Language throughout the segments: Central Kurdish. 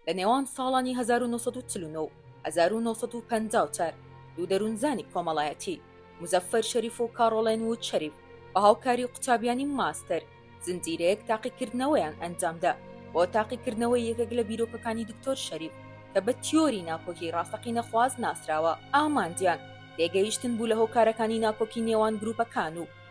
لە نێوان ساڵانی هەزار و نۆ سەد و چل و نۆ و هەزار و نۆ سەد و پەنجا و چوار دوو دەروونزانی کۆمەڵایەتی، موزەفەر شەریف و کاڕۆڵێن وود شەریف، بە هاوکاری قوتابیانی ماستەر، زنجیرەیەک تاقیکردنەوەیان ئەنجام دا بۆ تاقیکردنەوەی یەکێک لە بیرۆکەکانی دکتۆر شەریف کە بە تیۆری ناکۆکی ڕاستەقینەخواز ناسراوە. ئامانجیان تێگەیشتن بوو لە هۆکارەکانی ناکۆکی نێوان گرووپەکان و،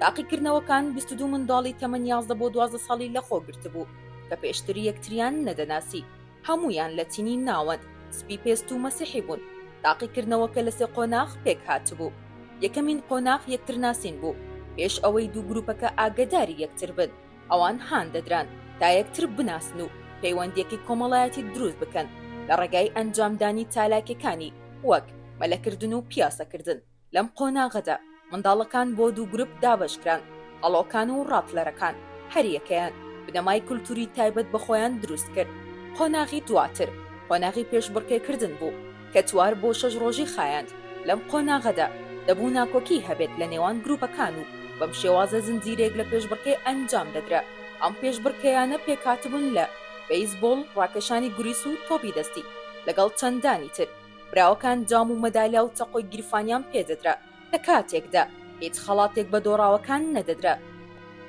تاقیکردنەوەکان بیست و دوو منداڵی تەمەن یازدە بۆ دوازدە ساڵی لەخۆ گرتبوو کە پێشتر یەکتریان نەدەناسی، هەموویان لەتینی ناوەند، سپی پێست و مەسیحی بوون، تاقیکردنەوەکە لە سێ قۆناغ پێکهاتبوو، یەکەمین قۆناغ یەکترناسین بوو، پێش ئەوەی دوو گروپەکە ئاگەداری یەکتر بن، ئەوان هاندەدران تا یەکتر بناسن و پەیوەندییەکی کۆمەڵایەتی دروست بکەن لە ڕێگای ئەنجامدانی چالاکییەکانی وەک مەلەکردن و پیاسەکردن. لەم قۆناغەدا منداڵەکان بۆ دوو گروپ دابەشکران، هەڵۆکان و ڕاپلەرەکان، هەریەکەیان بنەمای کولتووری تایبەت بە خۆیان دروست کرد. قۆناغی دواتر قۆناغی پێشبڕکێکردن بوو، کە چوار بۆ شەش ڕۆژی خایاند. لەم قۆناغەدا دەبوو ناکۆکی هەبێت لە نێوان گروپەکان و بەم شێوازە زنجیرەیەک لە پێشبڕکێ ئەنجام دەدرا. ئەم پێشبڕکێیانە پێکهاتبوون لە، بەیسبۆڵ، ڕاکێشانی گوریس و تۆپی دەستی، لەگەڵ چەندانی تر. براوەکان جام و مەدالیا و چەقۆی گیرفانیان پێ دەدرا لە کاتێکدا هیچ خەڵاتێک بە دۆڕاوەکان نەدەدرا.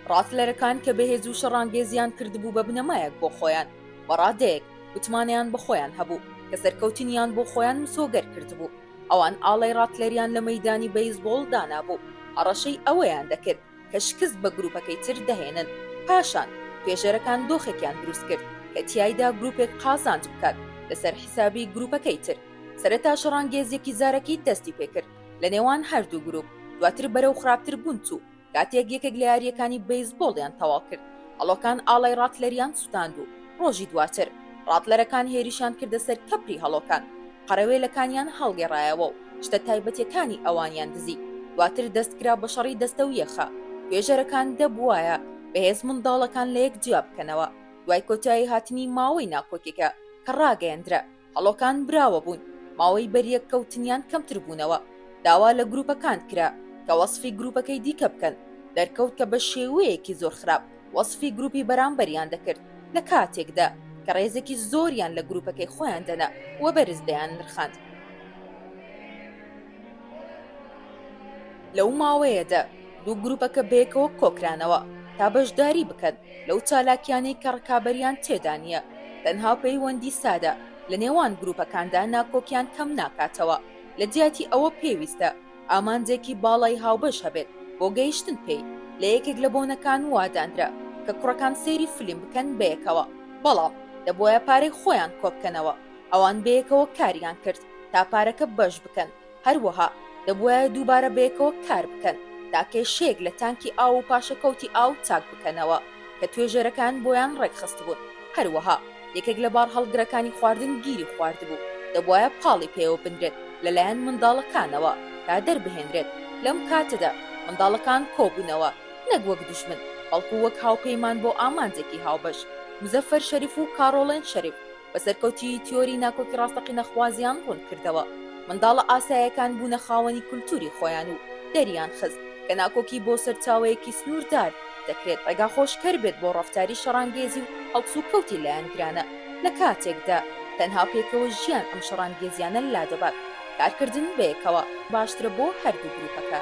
ڕاسلەرەکان کە بەهێز و شەڕانگێزیان کردبوو بە بنەمایەک بۆ خۆیان، بە ڕادەیەک متمانەیان بە خۆیان هەبوو کە سەرکەوتنیان بۆ خۆیان مسۆگەر کردبوو. ئەوان ئاڵای ڕاتلەریان لە مەیدانی بەیسبۆڵ دانابوو، هەڕەشەی ئەوەیان دەکرد، کە شکست بە گرووپەکەی تر دەهێنن، پاشان توێژەرەکان دۆخێکیان دروست کرد کە تیایدا گرووپێک قازانج بکات لەسەر حیسابی گرووپەکەی تر، سەرەتا شەڕانگێزیەکی زارەکی دەستی پێکرد لە نێوان هەردوو گرووپ، دواتر بەرەو خراپتر بوون چوو، کاتێک یەکێک لە یارییەکانی بەیزبۆڵیان تەواو کرد، هەڵۆکان ئاڵای ڕاتلەریان سوتاند و ڕۆژی دواتر ڕاتلەرەکان هێرشیان کردە سەر کەپری هەڵۆکان. قەرەوێلەکانیان هەڵگێڕایەوە و شتە تایبەتیەکانی ئەوانیان دزی، دواتر دەست کرا بە شەڕی دەستەویە خە، توێژەرەکان دەبوایە بەهێز منداڵەکان لەیەک جیا بکەنەوە، دوای کۆتایی هاتنی ماوەی ناکۆکێکە کە ڕاگەیەندرا هەڵۆکان براوە بوون ماوەی بەریەک کەوتنیان کەمتر بوونەوە داوا لە گروپەکان کرا کە وەسفی گروپەکەی دیکە بکەن دەرکەوت کە بە شێوەیەکی زۆر خراپ وەسفی گروپی بەرامبەریان دەکرد لە کاتێکدا کە ڕێزێکی زۆریان لە گروپەکەی خۆیان دەنا و بەرز دەیان نرخاند لەو ماوەیەدا دوو گروپەکە بەیەکەوە کۆکرانەوە تا بەشداری بکەن لەو چالاکیانەی کە ڕکابەریان تێدا نییە تەنها پەیوەندی سادە لە نێوان گروپەکاندا ناکۆکیان کەم ناکاتەوە لە جیاتی ئەوە پێویستە ئامانجێکی باڵای هاوبەش هەبێت بۆ گەیشتن پێی، لە یەکێک لە بۆنەکان وادانرا کە کوڕەکان سەیری فیلم بکەن بەیەکەوە، بەڵام دەبوایە پارەی خۆیان کۆبکەنەوە، ئەوان بەیەکەوە کاریان کرد تا پارەکە بەش بکەن، هەروەها دەبوایە دووبارە بەیەکەوە کار بکەن تا کێشەیەک لە تانکی ئاو و پاشەکەوتی ئاو چاک بکەنەوە. کە توێژەرەکان بۆیان ڕێکخستبوون، هەروەها یەکێک لە بارهەڵگرەکانی خواردن گیری خواردبوو، دەبوایە پاڵی پێوە بنرێت لەلایەن منداڵەکانەوە تا دەربهێنرێت، لەم کاتەدا منداڵەکان کۆبوونەوە نەک وەک دوژمن، بەڵکو وەک هاوپەیمان بۆ ئامانجێکی هاوبەش. مزەفەر شەریف و کاڕۆڵێن شەریف بە سەرکەوتیی تیۆری ناکۆکی ڕاستەقینەخوازیان ڕوون کردەوە، منداڵە ئاسایەکان بوونە خاوەنی کولتووری خۆیان و دەریان خست کە ناکۆکی بۆ سەرچاوەیەکی سنووردار دەکرێت ڕێگاخۆشکەر بێت بۆ ڕەفتاری شەڕانگێزی و هەڵسوکەوتی لایەنگرانە لە کاتێکدا تەنها پێکەوە ژیان ئەم شەڕانگێزییانە لادەبات کارکردن بەیەکەوە باشترە بۆ هەردوو گرووپەکە.